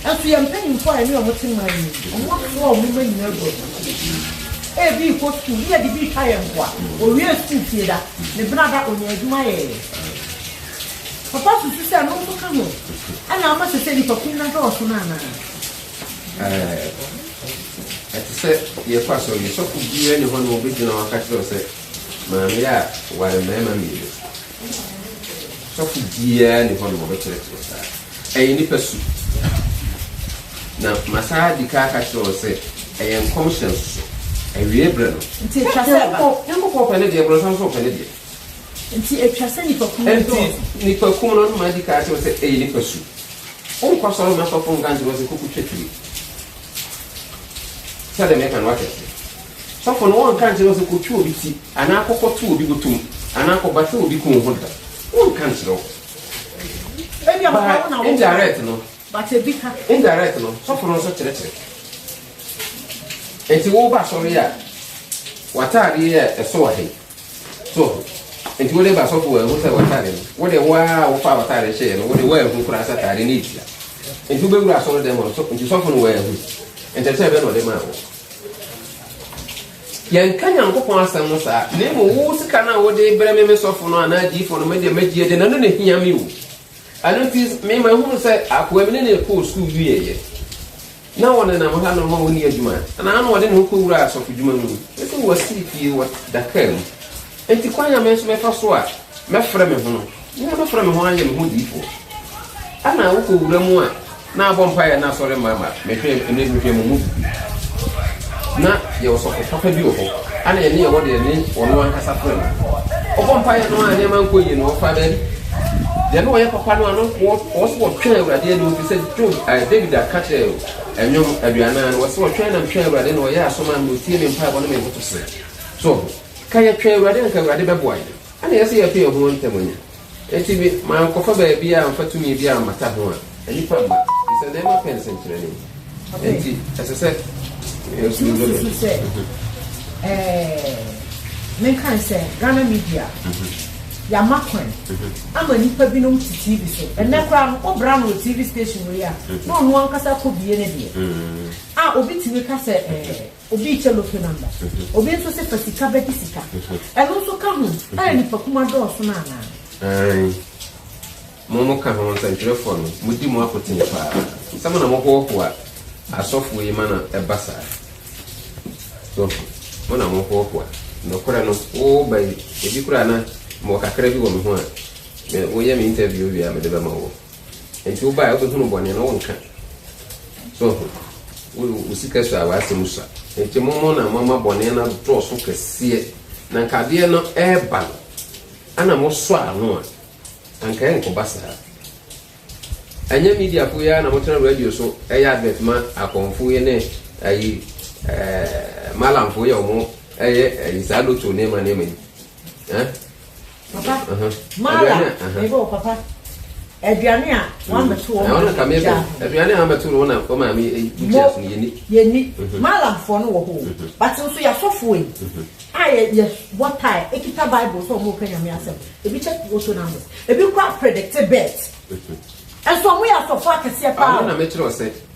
Nanso yɛn mpanyimfoɔ a yɛne wɔn te man no mu no, wɔasoa wɔn mma nyinaa agu abusuafie. Ebi rekɔ sukuu, ne yɛde bi retwa yɛn mmoa. Ɔwiee sukuu fie da, ne bena da, ɔnyaa adwuma yɛeɛ. Papa susu sɛ ɛno nso ka ho na ama seesei nipa kuw no adɔɔso no anaa? Ɛɛ. Ɛte sɛ yɛkɔ asɔre yi, sɔfo biara nni hɔ a ɔbɛgyina hɔ aka akyerɛ wo sɛ, Maame a ware mmarima mmienu, Sɔfo biara nni hɔ na wɔbɛkyerɛkyerɛ saa. Ɛyɛ nnipa su. Na masan adi kan aka kyerɛ wɔn sɛ ɛyɛ nkɔmhyɛ nso so. Awiei bere no. Nti etwa sɛ ɛba. Nyankopɔn pɛ ne deɛ, borɔnsam nso pɛ ne deɛ. Nti etwa sɛ nnipakum no dɔɔso. Nti nnipakum no, madi kan akyerɛ wo sɛ ɛyɛ nnipa su. Wonkɔsɔre mma sɔfo nka nkyerɛ wo sɛ kɔkɔtwa twene. Sɛdeɛ meka no, wate aseɛ? Sɔfo no ɔnka nkyerɛ wo sɛ kɔtwi obi ti, anaa kɔkɔto obi botom, anaa kɔbata obi kɔn ho da. Ɔnka nkyerɛ wo. Ebi a But ɔbaa wo na wo. indirect no, But ebi ka. indirect no, sɔfo no nso kyerɛkyerɛ. Enti woba asɔre a, w'ataadeɛ a ɛsɔ wɔ ha yi, So nti wode ba sɔfo wɔahu sɛ w'atade no wode wo ara a wofaa w'atade hyɛɛ no wode woanhu koraa sɛ atade no retua nti wobɛwura asɔre dɛm hɔ so nti sɔfo no wɔahu nkyɛkyɛ bɛ na ɔde maa wo yɛnka nyankopɔn asɛm no saa na mmom wo sika no a wode brɛ me me sɔfo no anaa diifo no medeɛ magye de na no na hia me o Ɛno nti, me mahunu sɛ akoa bi ne no rekɔ sukuu wieeɛ, na wɔnenam ha nom a wɔnni adwuma, anaa na ɔde ne ho kɔwura asɔfodwuma mu. Mese wɔasiri pie wɔ Dakar mu, enti kwan a me nso mɛfa so a mɛfrɛ me ho no, me ara mɛfrɛ me ho ayɛ me ho odiyifoɔ. Ɛna wokɔwura mu a, Na abɔ mpaeɛ na asɔre mma ma mehwɛ ɛnɛ mehwɛ mo mu bi na yɛ ɔsɔfo papa bi wɔ hɔ ana yɛne yɛwɔ deɛ ne ɔno ankasa frɛ no ɔbɔ mpaeɛ no a nneɛma nkɔ yie no ɔfa baabi deɛ ne ɔyɛ papa no ano wɔ so wɔtwɛn awurade anim fi sɛ job eh, david aka kyerɛ ɛnwom eh, aduanan no wɔ so wɔtwɛn nam twɛn awurade na ɔyɛ aso ma me ɔtie me mpaebɔ ne me nkoto serɛ so ka yɛtwɛn awurade anka awurade bɛboa yɛ ana yɛsɛ yɛto yɛ ho ntɛm anya Enti me, mankɔfa baabi a amfa tumi bi ammata ho a nnipa mma, efisɛ na ɛma pɛ nsenkyerɛnne. Enti ɛsɛ sɛ yɛn so yɛbɛbɛ. Wosusu sɛ, ɛɛ, menkae sɛ Ghana media, yɛama kwan ama nnipa binom te TV so. Ɛnnɛ koraa no, wobra no wɔ TV station wei a, na ɔno ankasa kɔbue ne deɛ a obi tumi ka sɛ, ɛɛ. Obi kyɛ lotto number. Obi nso se fa sika bɛgye sika. Ɛno nso ka ho a nipakuma dɔɔso no anaa? Aane. Mo mo ka ho nsɛntwerɛfoɔ no, mo di mo apotee paa. Sɛ mo na mo hoahoa asɔfoɔ yi ma na ɛba saa. So ho? Mo na mo hoahoa. Nokorɛ no, wo ba yi, ebi koraa na mewɔ kakra bi wɔ me ho a, me, wo yɛ me interview wie a, mede bɛma woɔ. Nti wo bae wobɛhunu bɔne no wonka so ho wo sika sua w'asɛm sua nti momo na moama bɔne no adɔɔso kɛseɛ na nka adeɛ no ɛreba no ana mosɔ ano a anka ɛnkɔba saa ɛnyɛ media fo yɛ na motena radio so ɛyɛ advert ma akɔnfo yɛ ne ayi ɛɛ malamfo yɛ ɔmo ɛyɛ ayi saa loto nneɛma nneɛma yi ɛɛ Papa, Mara, mebɔ wɔ papa. Aduane a wɔamɛto wɔn maame gya ho. Aduane a wɔamɛto wɔn na wɔn maame gya ho yɛni. Yɛni. Malamfoɔ no wɔ hɔ. But nso yɛasɔfoɔ yi a yɛ yɛ bɔ tae ekita bible sɛ wɔn ka nyame asɛm. Ebi kyɛ woto na mo. Ebi kura predicte bet. Nso wɔn yɛ asɔfoɔ akɛseɛ paa. Ano na mɛkyerɛ ɔsɛ.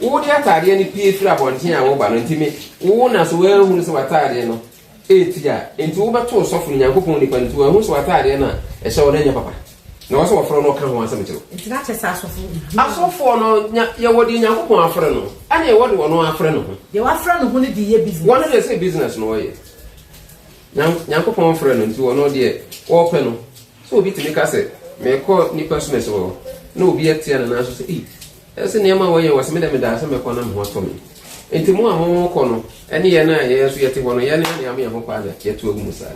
Wo de ataadeɛ no pue firi abɔnten a woreba no nti me wo na so woanhunu sɛ w'ataadeɛ no ɛreti a nti wo bɛto ɔsɔfo no Nyankopɔn nipa no nti wanhunu sɛ w'ataadeɛ no a ɛhyɛ wo no nyɛ papa na ɔwɔ sɛ wɔfrɛ no ɔka ho asɛm kyerɛ wo. Nti na kyɛ sɛ asɔfo hunu. Asɔfoɔ no nya yɛwɔ deɛ Nyankopɔn afrɛ no ɛne ɛwɔ deɛ ɔno afrɛ no ho. Deɛ wafrɛ no ho no de yɛ business. Wɔn deɛ sɛ business na ɔyɛ Nyan Nyankopɔn frɛ no nti ɔno deɛ ɔpɛ no sɛ obi tumi ka sɛ mekɔ nipa so mɛsɛ hɔ na obi atia no nanso sɛ ei Ɛse nneɛma a wɔyɛ wɔ se medɛ medaa se mɛkɔ na me ho atɔ me. Enti mo a mo kɔ no ne yɛn a yɛn nso yɛte hɔ no yɛn yɛn ama yɛn ho kwaa na yɛto agu mu saa.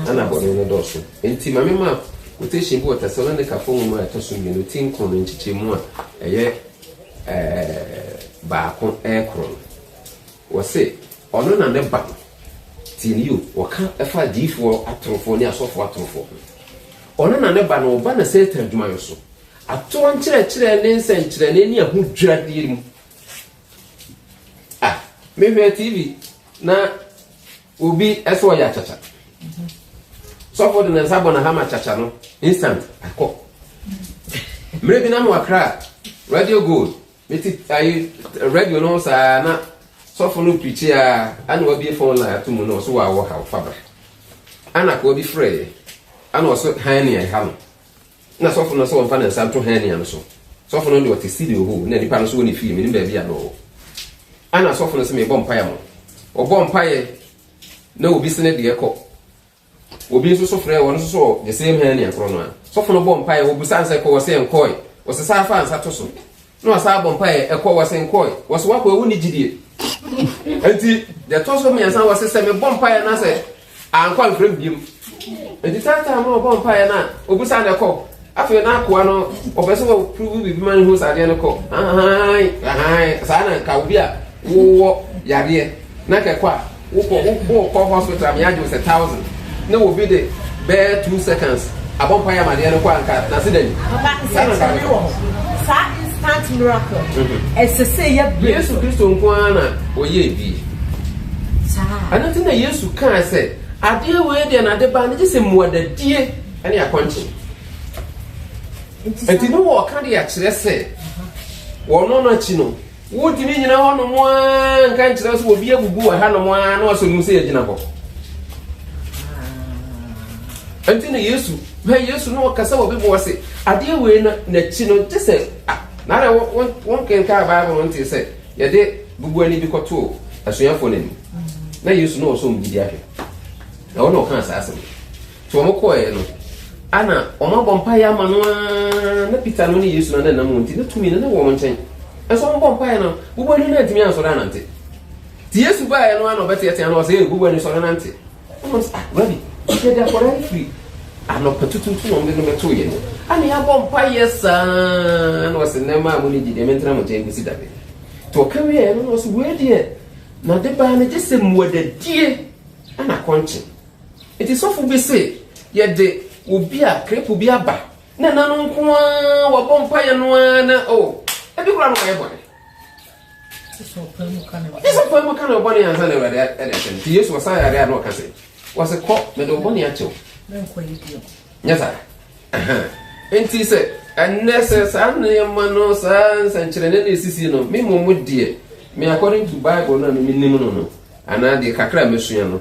Ana bɔne no dɔɔso. Enti ma mema quotation bi wɔ Tesalonikafo nwoma a ɛtɔ so mmienu ti nkron no nkyekyɛmu a ɛyɛ baako ɛkron no. Wɔse ɔno na ne ba no, tie no yio, wɔka ɛfa adiyifoɔ atorofoɔ ne asɔfoɔ atorofoɔ ho. Ɔno na ne ba no ɔba na Satan adwumayɔ so Atorɔ nkyerɛkyerɛ ne nsɛnkyerɛnne ne ahodwiradeɛ mu. Ah, mehwɛ TV na obi ɛsɛ ɔyɛ akyakya. Sɔfo de ne nsa bɔ n'ahama akyakya no, instant akɔ. Mmerɛ bi na mo akra radio gold, meti ayi radio no saa na sɔfo no pirikyi a ana wabie phone line ato mu na ɔso wɔ awɔ ha ɔfa bra. Ana koa bi frɛ yɛ, ana ɔso han ne ɛha no. Nna sɔfo no sɛ ɔmfa ne nsa nto hɛnia no so. Sɔfo no de ɔtse sidi ohoo, nna nyimpa no so wɔ ne fie, minyim beebi a nna ɔwɔ. Ana sɔfo no se mebɔ mpae ama wo. Ɔbɔɔ mpae na obi se ne deɛ kɔ. Obi nso so frɛɛ ɔno nso so the same hɛnia korɔ no a. Sɔfo no bɔɔ mpae, ɔbusaa no sɛ kɔ, ɔse nkɔɔe. Ɔse saa faa nsa to so. na wasan abɔ mpaeɛ ɛkɔ wɔsen kɔe wɔso wakɔ ɛwo ne gyidie nti deɛ ɛtɔ so mmiɛnsa wɔse sɛ mebɔ mpaeɛ na sɛ ankɔ amfrɛ m biom nti taataa ma ɔbɔ mpaeɛ no a ɔbusa no ɛkɔ afei na akoa no ɔpɛ sɛ wɔprovu biribi ma no hu sɛ adeɛ no kɔ saa na nka obi a Wo wɔ yareɛ na kɛkɔ a wo kɔ wo kɔ hospital me agye wo sɛ thousand na obi de bɛɛ two seconds abɔ mpa yɛ amadeɛ no kɔ a nka na se da ni. Papa nsɛ kyerɛnee wɔ hɔ saa instant miracle ɛsɛ sɛ yɛ brɛ. Yesu Kristo nko ara na ɔyɛ bi. Saa. Ɛno nti na Yesu kaa sɛ adeɛ wei deɛ na de ba no gye sɛ mmuadadie ne akɔnkye. Nti no wɔ ɔka de akyerɛ sɛ wɔno no akyi no. Wontumi nnyina hɔnom ara nka nkyerɛ sɛ obi abubu wɔ hanom ara na wasɔ mu sɛ yɛgyina hɔ. Ɛnti na Yesu, hwɛ Yesu na ɔkasa wɔ Bible ase. Adeɛ wei no n'akyi no gye sɛ na na wonkenkaa Bible no ntee sɛ yɛde bubuani bi kɔtoo asuafoɔ no anim. Na Yesu na ɔsɔ mu gyidi ahwɛ. Na ɔno ɔkaa saa asɛm. Nti wɔn kɔɔɛ no, ana wɔn abɔ mpaeɛ ama no aa, na Peter no ne Yesu no ananam wɔn nti, na tumi no ne wɔn nkyɛn. Nso wɔn bɔ mpaeɛ no, bubuani no antumi ansɔre anante. Nti Yesu baeɛ no ana ɔbɛteatea no, ɔsɛ, bubuani sɔre nante. Wɔn sɛ, ah, Rabi, yɛde akɔdaa no firi anɔpa tutuutu na wɔn de no bɛtoo yɛn. Ana yɛabɔ mpaeɛ saa, na ɔsɛ, nnɛ maa mo ne gyi deɛ mentena mo nkyɛn kɔsi da bɛ. Nti ɔka wieɛ no, na ɔsɛ, wei deɛ, na de baa no gye sɛ mmuadadie ana akɔnkye. Enti sɔfo bi se, Yɛde obi a krepɔ bi aba, na ɛna no nko ara, wabɔ mpaeɛ no ara na o, ebi koraa no wayɛ bɔne. Gye sɛ ɔpae mu ka ne bɔne. Gye sɛ ɔpae mu ka ne bɔne ansa na Awurade de ahyɛ no. Nti Yesu ɔsan yare a na ɔka se, wɔse, Kɔ, mede wo bɔne akyɛ wo. Menkɔ yi bio. Nyɛ saa. Aha. Enti sɛ ɛnnɛ sɛ saa nneɛma no, saa nsɛnkyerɛnne no esisi no, me mmom deɛ, me according to Bible no a me menim no no, anaa deɛ kakra a masua no,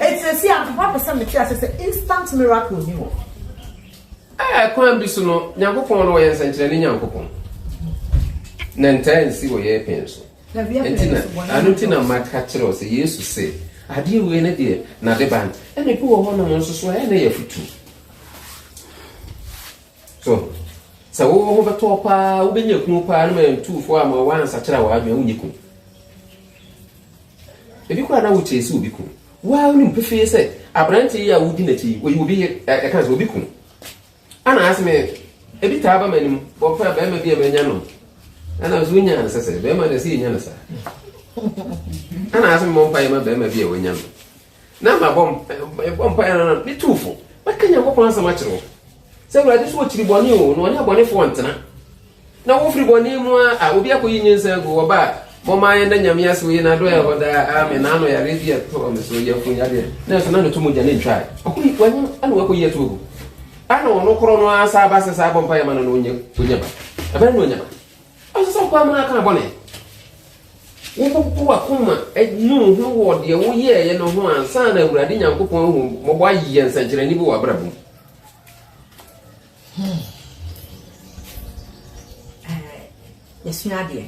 Eti sɛsi a mpaboa pɛ sɛ mete ase sɛ instant miracle ni hɔ. Ɛɛ kwan bi so no Nyankopɔn no ɔyɛ nsɛnkyerɛnne Nyankopɔn na ntaa nsi wɔ yɛ pɛn so. Nti na ano ti na maka kyerɛ sɛ Yesu se adeɛ wei ne deɛ na de ban ɛna ebi wɔ hɔ nom nso so ɛyɛ na yɛ futu. So sɛ wo ho bɛtɔ wo paa, wobɛnya kunu paa no ma ɛntu fo a ma woansakyera w'adwene wonyɛ kunu. Ebi koraa na wokyerɛ sɛ obi kunu. Waa wonim pefee sɛ aberante yi a wodi n'akyi yi, oyi obi ɛka sɛ obi kunu. Ana asɛm ebi taa ba m'anim, wɔpɛ bɛrima bi a manya no. Ana nso wonya no sɛsɛ, bɛrima na ɛsɛ yɛnya no saa. Ana asɛm mmɔ mpa yɛ ma bɛrima bi a wanya no. Na mabɔ mpaeɛ no na metuu fo. Mɛka Nyankopɔn asɛm akyerɛ wo sɛ Awurade so ɔkyiri bɔne o na ɔne abɔnefoɔ ntena. Na wofiri bɔne mu a a obi akɔyi nyensa agu wɔ ba a mɔma yɛn da Nyame ase oyi na adɔɛ hɔ daa amen na ano yare bi ɛtɔɔ me so yɛ fun yadeɛ na ɛso na noto mogya ne ntwae ɔkɔyi wanyam ana wakɔyi ato agu ana ɔno korɔ no asa aba sɛ saa abɔ mpaeɛ ma no na ɔnya ba ɛbɛrɛ na ɔnya ba Ɔnsɛ sɛ wopae mu na ka bɔne. Wopopo w'akoma nu wo ho wɔ deɛ woyɛeɛ no ho ansa na Awurade Nyankopɔn ahu mmɔbɔ ayɛ nsɛnkyerɛnne bi wɔ w'abrabɔ mu. Hmm. Eh, yɛsua adeɛ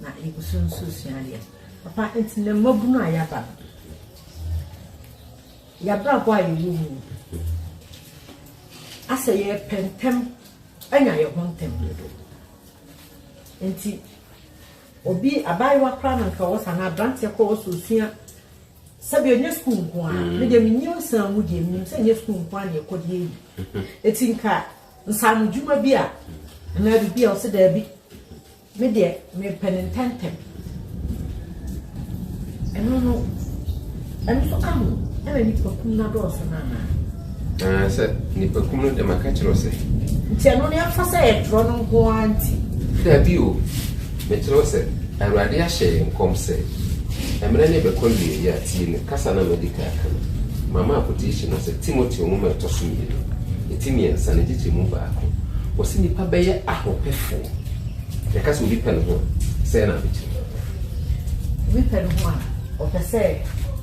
na yɛgu so nso sua adeɛ papa nti na mmabunu a yɛaba no yɛabrabɔ a yɛwɔ mu asɛ yɛpɛ ntɛm Anya yɛn ho ntɛm dodo. Nti obi abaayewa koraa na nka ɔwɔ saa na aberanteɛ koraa ɔwɔ sɛ ɔsua sɛbi ɔnyɛ sukuu nko ara mm. medeɛ menyi nsan mu deɛ menim sɛ nyɛ sukuu nko ara na ɛkɔ deɛ yi ɛti nka nsaano dwuma bi a anaa biribi a ɔsɛ daabi Me deɛ mepɛ no ntɛntɛm. Ɛno no, ɛno nso ka ho. Ɛna nnipakum no adɔɔso no anaa? Anaasɛ nnipakum no deɛ maka kyerɛ wo sɛ. Nti ɛno no yɛmfa sɛ yɛtwerɛ no nko ara nti? Dabi o, mekyerɛ wo sɛ Awurade ahyɛ yɛn nkɔm sɛ, Mmerɛ no bɛkɔ awieeɛ a, tie me kasa no a madi kan aka no. Mama quotation no sɛ Timoteo nwoma a ɛtɔ so mmienu, ɛti mmiɛnsa no nkyekyɛmu baako. Wɔse nnipa bɛyɛ ahopɛfoɔ. Yɛka sɛ obi pɛ ne ho a, sɛn na ade kyerɛ? Obi pɛ ne ho a, ɔpɛ sɛ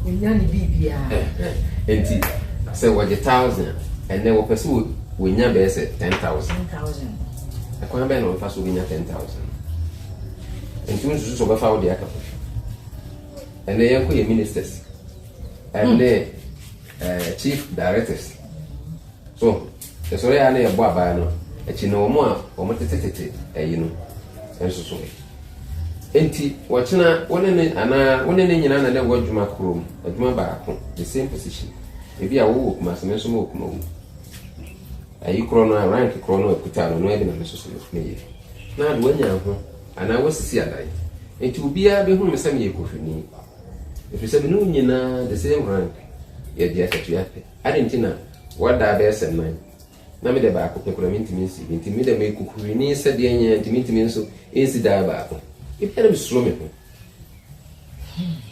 onya ne biribiara. Enti sɛ wɔgye thousand a, ɛnɛ wɔpɛ sɛ wɔnya bɛyɛ sɛ ten thousand. Ten thousand. Ɛkwan bɛn na wɔfa so bɛnya ten thousand? Nti wo nsusu sɛ wɔbɛfa wo de aka kofi. Ɛnɛ yɛnkɔ yɛ ministers ɛne hmm. eh, chief directors so Yɛsɔre ara na yɛbɔ abae no akyi na wɔn a wɔtete tete ayi no nso so ɛ? Enti ɔkyena wo ne no anaa wo ne no nyinaa na na ɛwɔ adwuma koro mu, adwuma baako, the same position. Ebi a wo wɔ Kumasi, me nso me wɔ Kumawu. Ayi korɔ no a, rank korɔ no a ɛkuta no, ɛno ara bi na me nso so meyɛ. Na ade wanya ho anaa wasisi adan. Enti obiara bɛhunu me sɛ meyɛ Kohwini. Ɛfiri sɛ me ne wo nyinaa the same rank, yɛgye akatua pɛ. Adɛn nti na Wɔdaa bɛyɛ sɛ nnan, na me dɛ baako pɛ koraa menntumi nsi bi, ntsi me dɛ m'ekokorini sɛdeɛ nyɛ a ntsi menntumi nso nnsi daa baako. Ebia na mesuro me ho,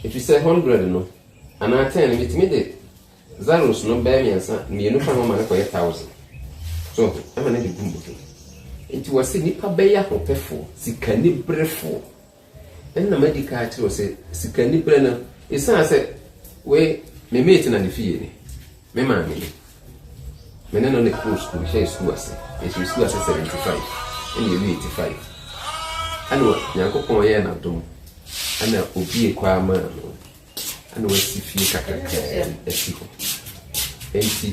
efirisɛ hundred no, anaa ten no, metumi de zaros no bɛyɛ mmiɛnsa, mmienu ka ho ma no kɔyɛ thousand. So ho? Ɛma no de gu mu he. Enti wɔse nnipa bɛyɛ ahopɛfoɔ, sikaniberefoɔ. Nna madi kan akyerɛ wo sɛ sikaniberɛ no, ɛsiane sɛ wei me mate na ne fie ni, me maame ni. Me ne no na ɛkɔɔ sukuu, mehyɛɛ sukuu ase, yɛhyɛɛ sukuu ase 75 ɛna yɛwie 85. Ɛna Nyankopɔn yɛɛ no adom, ɛna obie kwaa maa no, ɛna wasi fie kakrakaa bi asi hɔ. Ɛnti.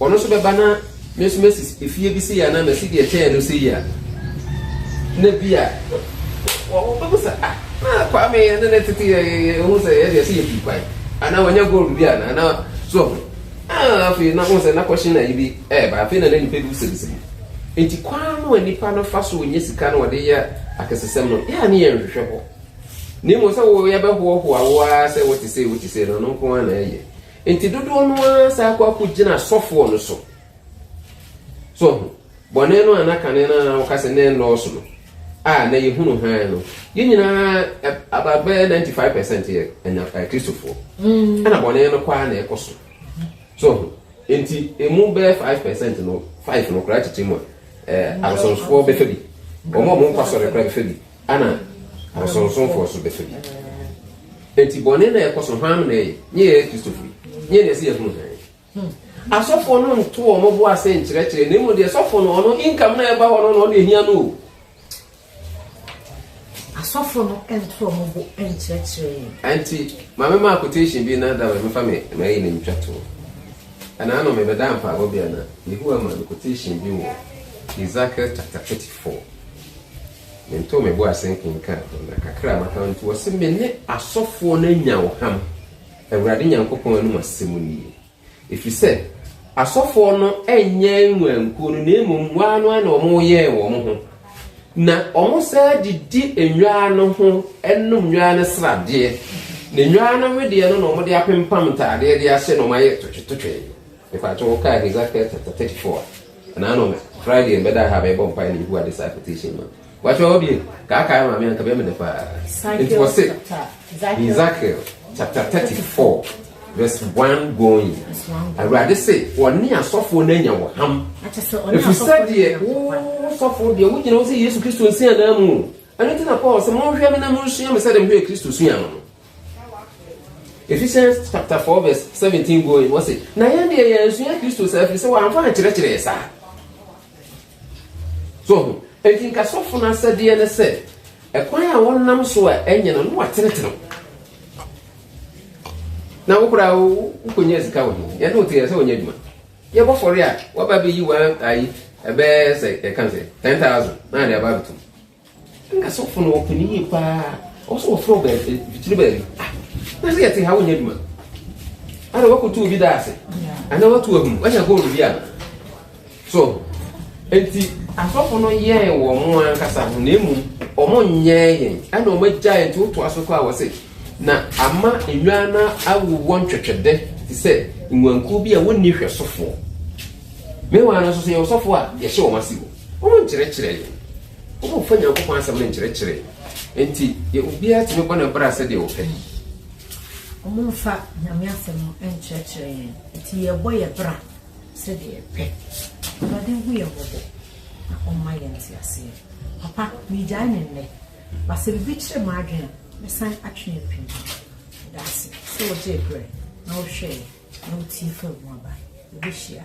Ɔno nso bɛba na me nso masi efie bi sei anaa masi deɛ ɛkyɛn no sei a, na bi a wɔbɛbu sɛ ah na Kwame ɛne ne tete yɛ yɛ ho sɛ yɛ deɛ sɛ yɛ pii kwan anaa wɔnyɛ gold bi anaa na so ɔho ah afei na ho sɛ na kɔhye na yi bi ɛɛba afei na na nipa bi wusabisa bi nti kwan no a nipa no fa so ɔnyɛ sika no ɔde yɛ akɛsesɛm no yɛ a ne yɛ nhwehwɛ hɔ na mmom sɛ wo yɛbɛhoɔhoa wo ara sɛ wote sei wote sei no no nko ara na ɛyɛ Nti dodoɔ no ara san kɔ akɔ gyina asɔfoɔ no so. So ho? Bɔne no a na kane no ara woka sɛ na ɛnnɔɔso no, a na yɛhunu hann no, yɛn nyinaa ɛ, about bɛyɛ 95 percent yɛ anya, ɛ, Kristofoɔ. Ɛna bɔne no kɔ ara na ɛkɔ so. So ho? Nti ɛmu bɛyɛ 5 percent no, five no koraa titirimu a, ɛ, abosonsfoɔ bɛfa bi. Wɔn a wɔnkɔ asɔre koraa bɛfa bi. Ana abosonsomfoɔ so bɛfa bi? Enti bɔne na ɛkɔ so hwan na ɛyɛ? Nye yɛyɛ Kristofo yi, nye na ɛsɛ yɛhunu hann. Asɔfoɔ no nto wɔn bo ase nkyerɛkyerɛ, na mmom deɛ sɔfo no ɔno income na ɛba hɔ no na ɔde ehia no o. Asɔfo no nto wɔn bo nkyerɛkyerɛ. Enti maame maa quotation bi na da bɛ mefa me na ɛyɛ ne ntwa to. Ɛna ano mebɛda mpaabɔ bi ana Yehowa ma no quotation bi wɔ Ezekiel chapter 34. Mentoo me bo ase nkenkaan ho, na kakra a maka no nti, wɔse me ne asɔfoɔ no anya ɔham, Awurade Nyankopɔn anom asɛm nie. Ɛfiri sɛ asɔfoɔ no nyɛ nnwankuo no, na mmom waa no ara na wɔyɛɛ wɔn ho, na wɔsaa de di nnwaa no ho nom nnwaa no sradeɛ, na nnwaa no wedeɛ no na wɔde apempam ntaadeɛ de ahyɛ na wɔayɛ totwetotwe. Mepakyɛ wo, wokaa Hesekiel chapter 34 a. Ɛna ano Friday yɛn bɛda ha bɛbɔ mpae na ehu ade saa quotation ma. Wakyɛ hɔ bie kaakaa maame anka bɛyɛ me dɛ paa. Nti wɔ se Ezekiel chapter thirty four verse one going. Awurade se wɔne asɔfoɔ no anya wɔ ham. Efisɛ deɛ wo sɔfoɔ deɛ wogyina wo sɛ Yesu Kristo nsi anaa mu. Ɛno nti na Paul sɛ monhwɛ me na monsua me sɛdeɛ mehwɛ Kristo sua no no. Ephesians chapter 4 verse 17 going wɔ se na yɛn deɛ yɛn nsua kristo saa firi sɛ wɔamfa ankyerɛkyerɛ yɛ saa so ho enti nka sɔfo no asɛdeɛ ne sɛ ɛkwan a wɔnam so a ɛnyɛ no no watenetene na wo koraa wokɔnya sika wɔ ho yɛne wote yɛ sɛ wɔnyɛ adwuma yɛbɔ fɔre a waba bɛyi wa ayi ɛbɛyɛ sɛ yɛka sɛ 10000 na ade aba bɛtom Nka sɔfo no ɔpɛ ne yie paa ɔwɔ sɛ wɔfrɛ ɔbɛ fitiri baabi ah na sɛ yɛte ha wonyɛ adwuma ana wakoto obi da ase ana wato ahum wanya gold bi a so nti asɔfo no yɛɛ wɔn mo ankasa ho na emu wɔn nyɛɛ yɛn ɛna wɔn agya yɛn nti woto aso kɔ a wɔse na ama nnwan no awowɔ ntwɛtwɛdɛ te sɛ nnwankuo bi a wɔnni hwɛsofoɔ mewa no nso sɛ yɛwɔ sɔfo a yɛhyɛ wɔn ase o Ɔnkyerɛkyerɛ yɛn. Wɔmfa Nyankopɔn Asɛm no nkyerɛkyerɛ yɛn. Enti, yɛ obiara tumi bɔ ne bra sɛdeɛ ɔpɛ. Wɔmfa Nyame Asɛm no nkyerɛkyerɛ yɛn. Enti, yɛbɔ yɛn bra sɛdeɛ yɛpɛ. Awurade nhu yɛn mmɔbɔ na ɔmma yɛn nteaseɛ. Papa, meegyae no nnɛ. Ba sɛ biribi kyere m'adwene a, mɛsan atwe apue mu. Medaase sɛ wogyee berɛ na wohwɛeɛ na wotiee fam mu aba. Yɛbɛhyia.